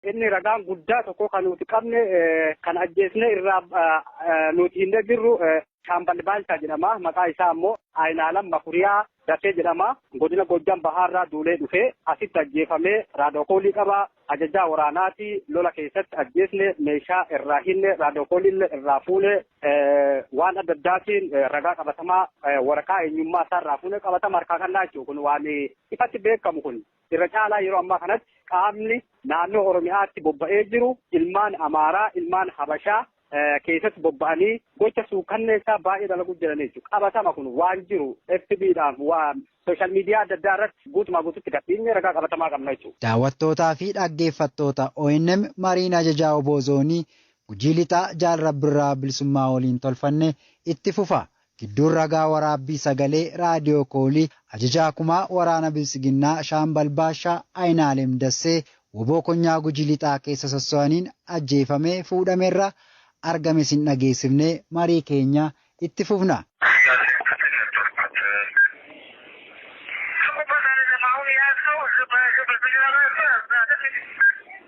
Inni ragaan guddaa tokko kan nuti qabne kan ajjeesne irraa nuti hin jirru Shaambal Baalchaa jedhama. Maqaa isaa ammoo Ayinaalam Makuriyaa Dasee jedhama. Godina Goojjam Bahaarraa duulee dhufee asitti ajjeefamee raadookoolii qaba. Ajajaa waraanaati lola keessatti ajjeesne meeshaa irraa hinne raadookooliillee irraa fuune waan adda addaatiin ragaa qabatamaa waraqaa eenyummaa isaa irraa fuune qabatama harkaa kannaa jechuudha. Kun waan ifatti beekamu kun. Irra caalaa yeroo ammaa kanatti qaamni naannoo Oromiyaatti bobba'ee jiru ilmaan Amaaraa, ilmaan Habashaa keessatti bobba'anii gocha suukkanneessaa baay'ee dalaguu jiran jechuudha. Qabatama kun waan jiru FB dhaan sooshaal miidiyaa adda addaa irratti guutumaa guututti gad dhiifnee ragaa qabatamaa qabna jechuudha. Daawwattootaa fi dhaggeeffattoota ONM mariin Ajajaa wbo Zoonii Gujii Lixaa Jaal Rabbirraa Bilisummaa waliin tolfanne itti fufa. Gidduun ragaa waraabbii sagalee raadiyoo koolii Ajajaa Kumaa Waraana Biltsiginnaa Shaambal Baashaa Ayinaalem Dassee wbo Konyaa Gujii Lixaa keessa sosso'aniin ajjeefamee fuudhamerra argame isin dhageessifne marii keenya itti fufna.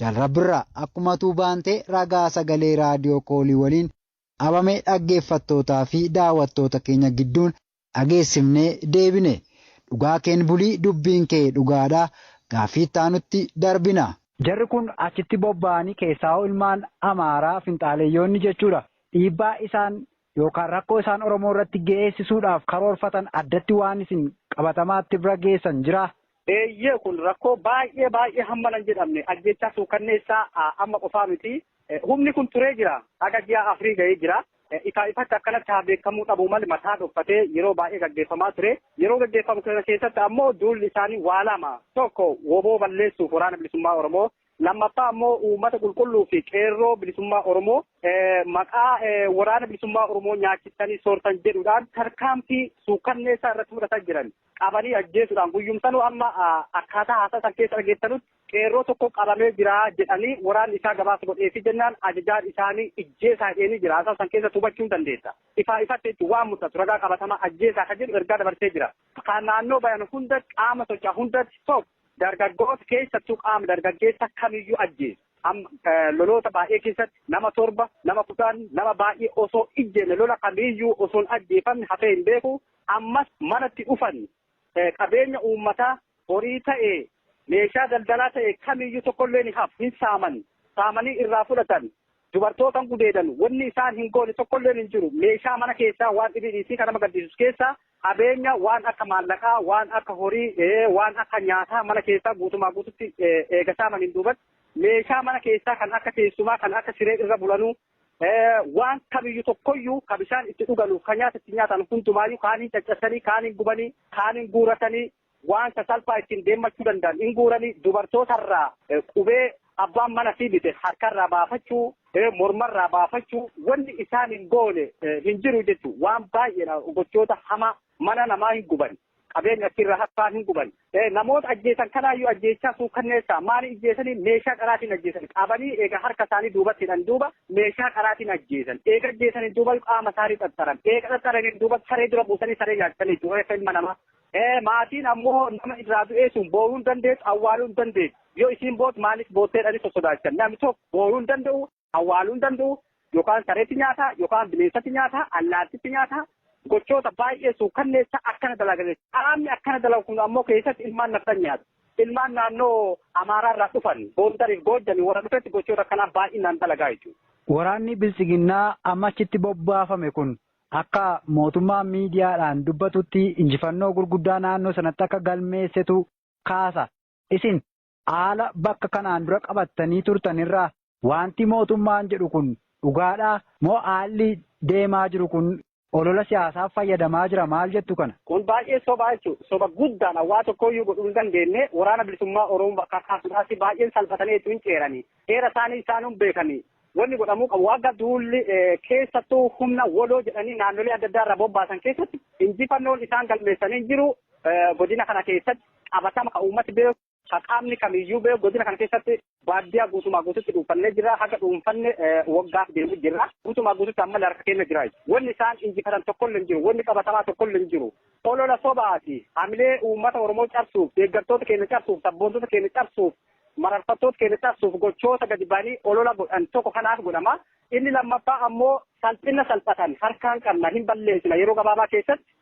Jaal Rabbirraa akkuma atuu baantee ragaa sagalee raadiyoo koolii waliin Abame dhaggeeffattootaa fi daawattoota keenya gidduun dhageessifnee deebine. Dhugaa keen buli dubbiin kee dhugaadha. Gaaffii itti aanutti darbina. Jarri kun achitti bobba'anii keessaahuu ilmaan Amaaraa finxaaleyyoonni jechuudha dhiibbaa isaan yookaan rakkoo isaan Oromoo irratti ge'eessisuudhaaf karoorfatan addatti waan isin qabatamaatti bira geessan jiraa? Eeyyee kun rakkoo baay'ee baay'ee hamma nan jedhamne ajjeechaa suukanneessaa amma qofaa miti. Humni kun turee jira. Haga ji'a afurii ga'ee jira. Ifaa ifatti akkanatti haa beekamuu dhabuu malee mataa dhokfatee yeroo baay'ee gaggeeffamaa ture. Yeroo gaggeeffamu kana keessatti ammoo duulli isaanii waa lama. Tokko woboo balleessuuf waraana bilisummaa Oromoo Lammaffaa ammoo uummata qulqulluu fi qeerroo bilisummaa Oromoo maqaa waraana bilisummaa Oromoo nyaachistanii soortan jedhuudhaan tarkaanfii suukkanneessaa irratti fudhataa jiran qabanii ajjeesuudhaan guyyumsanuu amma akkaataa haasaa san keessa dhageessanutti qeerroo tokko qabamee jira jedhanii waraanni isaa gabaasa godheefi jennaan ajajaan isaanii ijjeesaa jedhanii jira haasaa san keessa hubachuun dandeessa. Ifaa ifatti jechuun waan mul'atu ragaa qabatamaa ajjeesaa kan jedhu ergaa dabarsee jira. Kan naannoo bayan hunda qaama socho'aa hundatti tokko. Dargaggoota keessattuu qaama dargaggeessa kamiyyuu ajjeesu. Amma loloota baay'ee keessatti nama torba, nama kudhan, nama baay'ee osoo ijjeenne lola kamiyyuu osoo hin ajjeefamne hafee hin beeku. Ammas manatti dhufan qabeenya uummataa horii ta'e, meeshaa daldalaa ta'e kamiyyuu tokkollee ni hafu, hin saaman, saamanii irraa fudhatan. dubartootan gudeedan wanni isaan hin goone tokkolleen hin jiru meeshaa mana keessaa waan dhibii dhiisii kan nama gaddisus keessaa qabeenya waan akka maallaqaa waan akka horii waan akka nyaataa mana keessaa guutumaa guututti eega saamaniin duubat meeshaa mana keessaa kan akka teessumaa kan akka siree irra bulanuu waan kamiyyuu tokkoyyuu kan bishaan itti dhuganuuf kan nyaata itti nyaatan hundumaayyuu kaaniin caccabsanii kaaniin gubanii kaaniin guuratanii waan sasalphaa ittiin deemmachuu danda'an in guuranii dubartoota irraa qubee abbaan mana fi bite harka irraa baafachuu morma irraa baafachuu wanni isaan hin goone hin jiru jechuun waan baay'eedha gochoota hamaa mana namaa hin guban qabeenya achirra harkaan hin guban namoota ajjeesan kanaayyuu ajjeechaa suukanneessaa maali ajjeesanii meeshaa qaraatiin ajjeesan qabanii eega harka isaanii duubatti hidhan duuba meeshaa qaraatiin ajjeesan eega ajjeesaniin duuba qaama isaanii xaxxaran eega xaxxaraniin duuba saree dura buusanii saree nyaachisanii jiru reeffa ilma namaa Ee, maatiin ammoo nama irraa du'ee sun booyuu hin dandeettu, awwaaluu hin dandeettu. Yoo isiin boote maaliif boottee jedhanii sossodaachan. Namni tokko booyuu hin danda'u, awwaaluu hin danda'u, yookaan sareetti nyaata, yookaan bineensatti nyaata, allaattitti nyaata. Gochoota baay'ee suukkanneessaa akkana dalagan. Qaamni akkana dalagu kun ammoo keessatti ilmaan nafxanyaati. Ilmaan naannoo Amaaraa irraa dhufan, Gondariif Goojjami warra dhufetti gochoota akkanaa baay'inaan dalagaa jechuudha. Waraanni Biltsiginnaa amma achitti bobbaafame kun Akka mootummaan miidiyaadhaan dubbatutti injifannoo gurguddaa naannoo sanatti akka galmeessetu kaasa. Isin haala bakka kanaan dura qabattanii turtan irraa waanti mootummaan jedhu kun dhugaadhaa? Moo haalli deemaa jiru kun olola siyaasaaf fayyadamaa jira maal jettu kana? Kun baay'ee sobaa jechuudha. Soba guddaadha. Waa tokkooyyuu godhuu hin dandeenye. Waraana Bilisummaa Oromoo bakka kaasuudhaaf baay'een salphatanii jechuun hin ceerani. Seera isaanii isaanuu hin beekani. Wanni godhamuu qabu akka duulli keessattuu humna wbo jedhanii naannolee adda addaa irraa bobbaasan keessatti injifannoon isaan galmeessanii hin jiru. Godina kana keessatti qabatama kan uummati beeku, kan qaamni kamiyyuu beeku godina kana keessatti baadiyyaa guutumaa guututti dhuunfannee jirra. Haga dhuunfanne waggaaf deemu jirra. Guutumaa guututti ammallee harka keenya jira. Wanni isaan injifatan tokkollee hin jiru. Wanni qabatamaa tokkollee hin jiru. Olola sobaati. Hamilee uummata Oromoo cabsuuf, deeggartoota keenya cabsuuf, sabboontota keenya cabsuuf mararfattoota keenya cabsuuf gochoota gadi ba'anii olola godhan tokko kanaaf godhama. Inni lammaffaa ammoo salphina salphatan harkaan qabna hin balleessina yeroo gabaabaa keessatti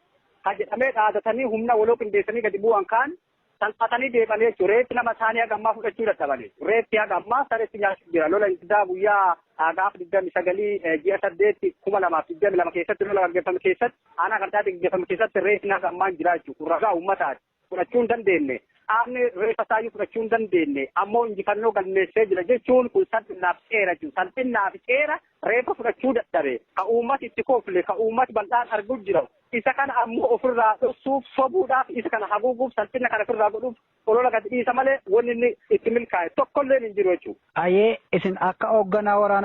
ka jedhamee dhaadatanii humna waloo qindeessanii gadi bu'an kaan salphatanii deemanii jechuudha. Reeffi nama isaanii haga ammaa fudhachuu dadhabanii. Reeffi haga ammaa sareetti nyaachuuf jira. Lola Ingidaa guyyaa gaafa digdami sagalii ji'a saddeetti kuma lamaaf digdami lama keessatti lola gaggeeffame keessatti aanaa qarcaatti gaggeeffame keessatti reeffi haga ammaa hin jiraachuu kun ragaa uummataati. fudhachuu hin dandeenne, qaamni reeffa isaayyuu fudhachuu hin dandeenne ammoo injifannoo galmeessee jira jechuun kun salphinnaaf ceera jechuudha. Salphinnaaf ceera reeffa fudhachuu dadhabe, ka uummati itti kofle, ka uummati bal'aan arguu jiru, isa kana ammoo ofirraa dhossuuf, sobuudhaaf, isa kana haguuguuf, salphinna kana ofirraa godhuuf olola gadi dhiisa malee wanni inni itti milkaa'e tokkolleen hin jiru jechuudha. Ayee isin akka hoogganaa waraana